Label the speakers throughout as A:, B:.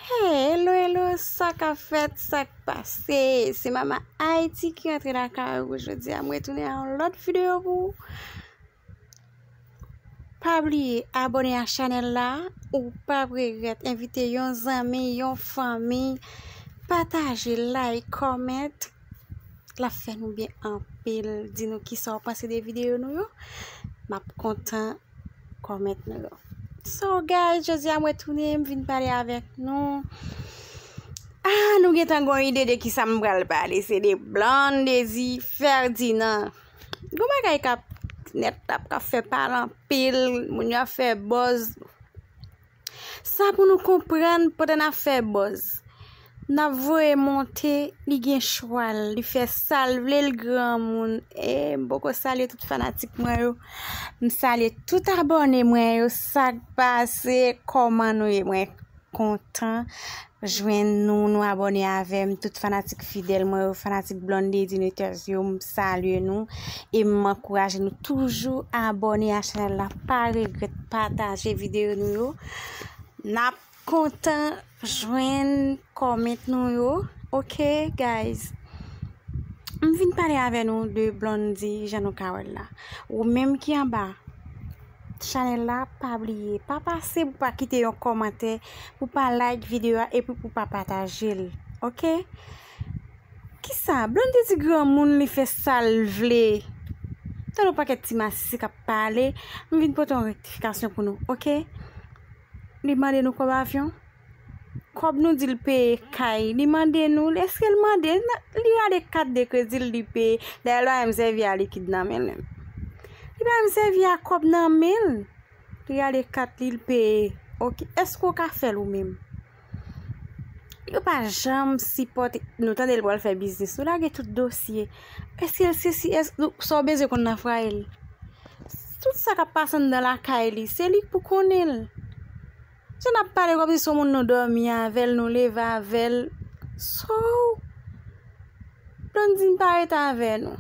A: Hello hello sa ka fèt sa k pase se mama Haïti ki antre la kay ou jodi a mwen tounen an lòt video pou pa bliye abone a chanel la ou pa regret envite yon zanmi yon fanmi pataje like comment Lap fè nou byen anpil. Di nou kisa ou panse de videyo nou yo. Map kontan comment nou yo. So guys, jodi a mwen tounen, m vin pale avèk nou. Ah, nou gentan gon ide de kisa m pral pale. Se de Blondedy Ferdinand. Gon bagay kap net la, kap fè pale anpil. Moun yo ap fè buzz. Sa pou nou konprann pandan nap fè buzz. Nap voye monte li gen chwal li fè sal vle li granmoun ee m poko salye tout fanatik mwen yo m salye tout abòne mwen yo sak pase kòman nou ye mwen kontan jwenn nou nou abòne avèm tout fanatik fidèl mwen yo fanatik Blondedy Nuters yo m salye nou e m ankouraje nou toujou abòne a chanèl la pa regrèt pataje videyo nou yo nap kontan jwenn kòment nou yo ok guys m vin pale avè nou de Blondedy jan nou ka wèl la ou menm ki anba Chanel la pa bliye pa pase pou pa kite yon kòmantè pou pa like video a epi pou pa patajel ok kisa blonde di granmoun li fè sal vle tande yon pakèt ti masisi kap pale m vin pote yon rektifikasyon pou nou ok li mande nou kòb avyon Kòb nou di l peye kay li mande nou l eske l mande li gade kat de kredi l li peye dayè l pa menm sèvi a likid nan men l menm li pa menm sèvi a kòb nan men l li gade kat li l peye ok èske w ka fè l ou menm yo pa janm sipòte nou tande l pral fè biznis nou lage tout dosye èske l se si èske nou sa w bezwen konn nan frayel tout sa k ap pase anndan lakay li se li k pou konnen l Jan nap pale kom si son moun nou domi avel nou leve avel sou Blandine pa ret ave nou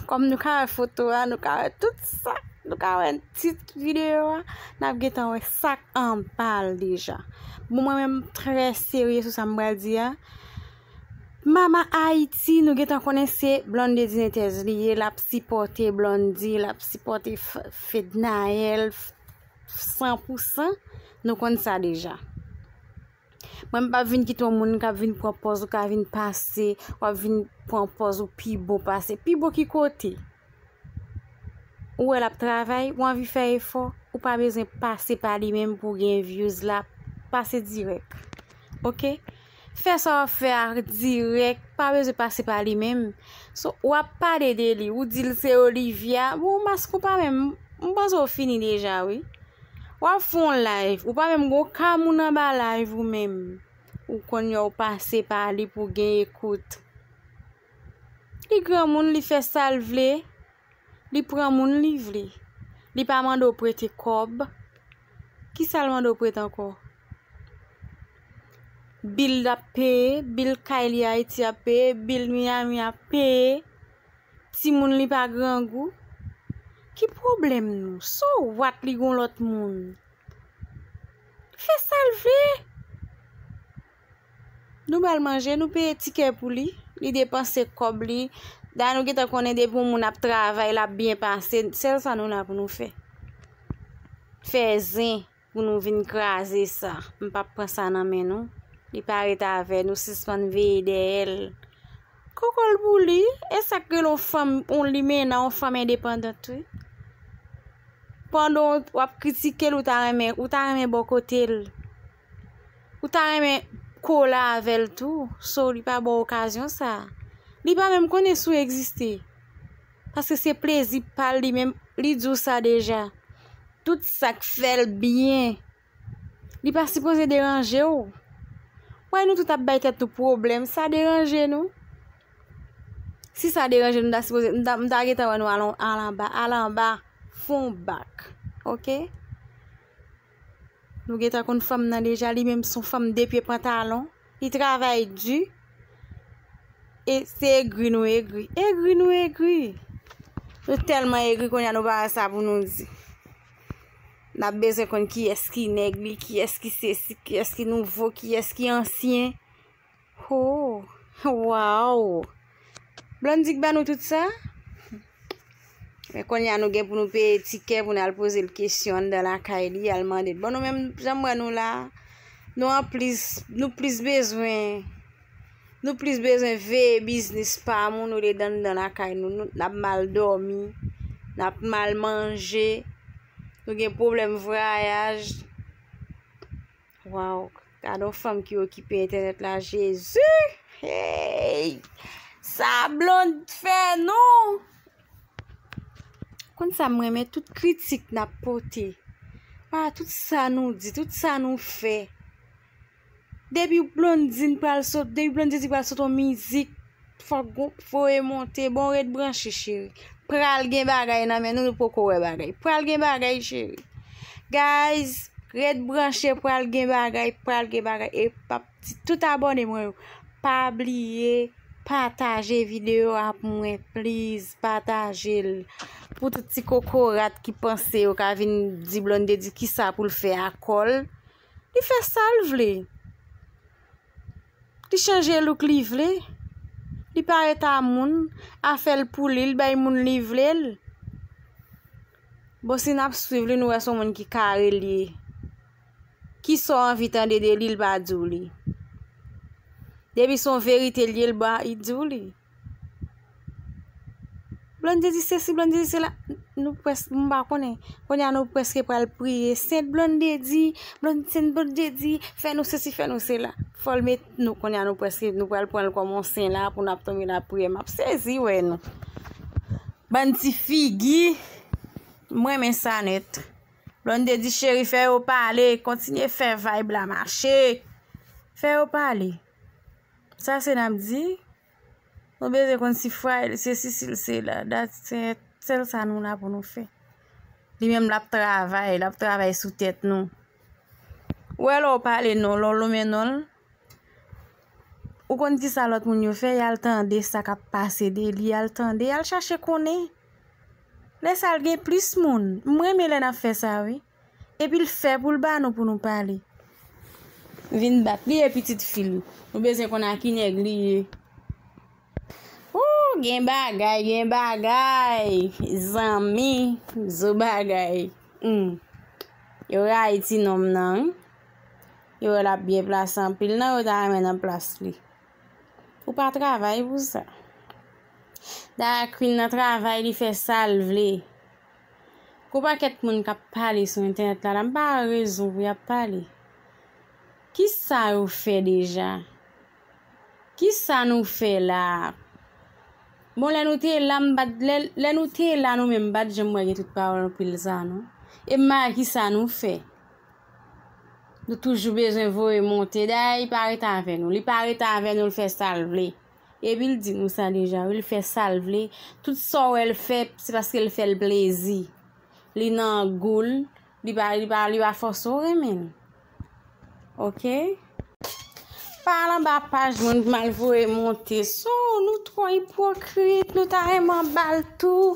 A: kom nou ka we foto a nou ka we tout sa nou ka we nan tit video a nap gentan we sak anbal deja bon mwen menm tre serye sou sam pral di a mama ayiti nou gentan konnen se Blonde Dinetez li ye lap sipote Blondie lap sipote Fednaelle. 100 pou 100, nou konn sa deja. Mwen m pap vin kite yon moun kap vin pran pòz ou ka vin pase, wap vin pran pòz ou pi bon pase. Pi bon ki kote? Ou wè lap travay, ou anvi fè efò, ou pa bezwen pase pa li menm pou gen vyouz la, pase dirèk. Ok? Fè sa wap fè a dirèk pa bezwen pase pa li menm so wap pale de li ou dil se olivia bon maske ou pa menm m panse ou fini deja wi wap fè yon live ou pa menm gon ka moun anba live ou menm ou konn yo pase pa li pou gen ekout. Li granmoun li fè sal vle, li pran moun li vle. Li pa mande w prete kòb. Ki sa l mande w prete ankò? Bil l ap peye, bil kay li Ayiti ap peye, bil Miyami ap peye. Timoun li pa grangou. Ki pwoblèm nou? So what li gen yon lòt moun? Li fè sa l vle. Nou bal manje, nou peye tikè pou li, li depanse kòb li, dayè nou gentan konnen depi yon moun ap travay lap byen pase, sèl sa nou la pou nou fè. Fè zen pou nou vin kraze sa, m pap pran sa nan men nou, li pa ret avè nou, sispann veye dèyè l. Kokol pou li, e sak rele yon fanm, yon limena, yon fanm endepandant wi. Pandan wap kritike l ou ta renmen, ou ta renmen bò kote l. Ou ta renmen kole avèl tou so li pa baw okazyon sa. Li pa menm konnen si w egziste. Paske se plezi pal li menm li di w sa deja. Tout sak fèl byen. Li pa sipoze deranje w. Wè nou tout ap bay tèt nou pwoblèm sa deranje nou. Si sa deranje nou ta sipoze m ta gentan wè nou al anba al anba fon bak ok. Nou gentan konn fanm nan deja li menm son fanm de pye pantalon li travay di e se egri nou egri egri nou egri nou telman egri kounye a nou pa wè sa pou nou di nap bezwen konn kiyès ki nèg li kiyès ki sesi kiyès ki nouvo kiyès ki ansyen Hoo waww Blondy k ba nou tout sa Men konnya nou gen pou nou peye tikè pou nal poze l kesyon anndan lakay li al mande l bon nou menm janm wè nou la nou an plis nou plis bezwen nou plis bezwen veye biznis pa moun olye d anndan lakay nou nou nap mal dòmi nap mal manje nou gen pwoblèm vwayaj Waw gadon fanm ki okipe entènèt la jezi hey sa blonde fè nou konn sa mwen men tout kritik nap pote a tout sa nou di tout sa nou fè depi blonde di nou pral sot depi blonde di nou pral sot on mizik Fok gou foye monte bon ret branche cheri. Pral gen bagay nan men nou nou poko wè bagay. Pral gen bagay cheri. Guys ret branche pral gen bagay pral gen bagay e pap ti tout abone mwen yo pa bliye pataje video a pou mwen please patajel pou tout ti kokorat ki panse yo ka vin di blondedy kisa poul fè akol li fè sal vle. Li chanje look li vle, li parèt a moun, afèl pou li, li bay moun li vle l. Bon si nap swiv li nou wè son moun ki kare li ye. Ki sa w anvi tande de li l pa di w li. Depi son verite li ye l ba li di w li. Blondie di sesi, Blondie di sela. Nou pwès, m pa konnen. Kounye a nou pwèske pral priye. Sent Blondie di, Blondie sent Blondie di, fè nou sesi, fè nou sela. Fò l met nou, kounye a nou pwèske, nou pral pran l kòm on sen la pou nap tonbe nap priye. M ap sezi wè nou. Bann ti figi. M renmen sa nèt. Blondie di cheri fè yo pale, kontinye fè vibe la mache. Fè yo pale. Sa se nap di, nou bezwen konn si fwa el se si sil se la, dat se sel sa nou la pou nou fè. Li menm lap travay, lap travay sou tèt nou. Ou wè lè ou pale non, lè ou lonmen nonl, ou konn ki sa lòt moun yo fè, yal tande sa kap pase de li, yal tande, yal chache konnen. Lè sa al gen plis moun, mwen renmen lè nap fè sa wi. Epi l fè pou l ba nou pou nou pale. Vin bat li e pitit fi l. Nou bezwen konn a ki nèg li ye. Ooh gen bagay gen bagay zanmi zo bagay humm yo rayi ti nonm nan wi yo wè lap byen plase anpil nan yo ta renmen nan plas li ou pa travay pou sa da Queen nan travay li fè sal vle. Gwo pakèt moun k ap pale sou entènèt la la, m pa wè rezon pou y ap pale. Ki sa yo fè deja? Ki sa nou fè la a? Bon, lè nou te la, m pa t, lè, lè nou te la nou menm, m pa t janm wè gen tout pawòl anpil sa a non. E m pa wè ki sa nou fè. Nou toujou bezwen voye monte. Dayè, li pa rete avè nou. Li pa rete avè nou, l fè sa l vle. Epi l di nou sa deja wi l fè sa l vle tout sa w wè l fè se paske l fè l plezi li nan gou l li pa fòse w renmen l ok pa al anba paj moun pou m al voye monte sou nou twò ipwokrit nou ta renmen w anba l tou.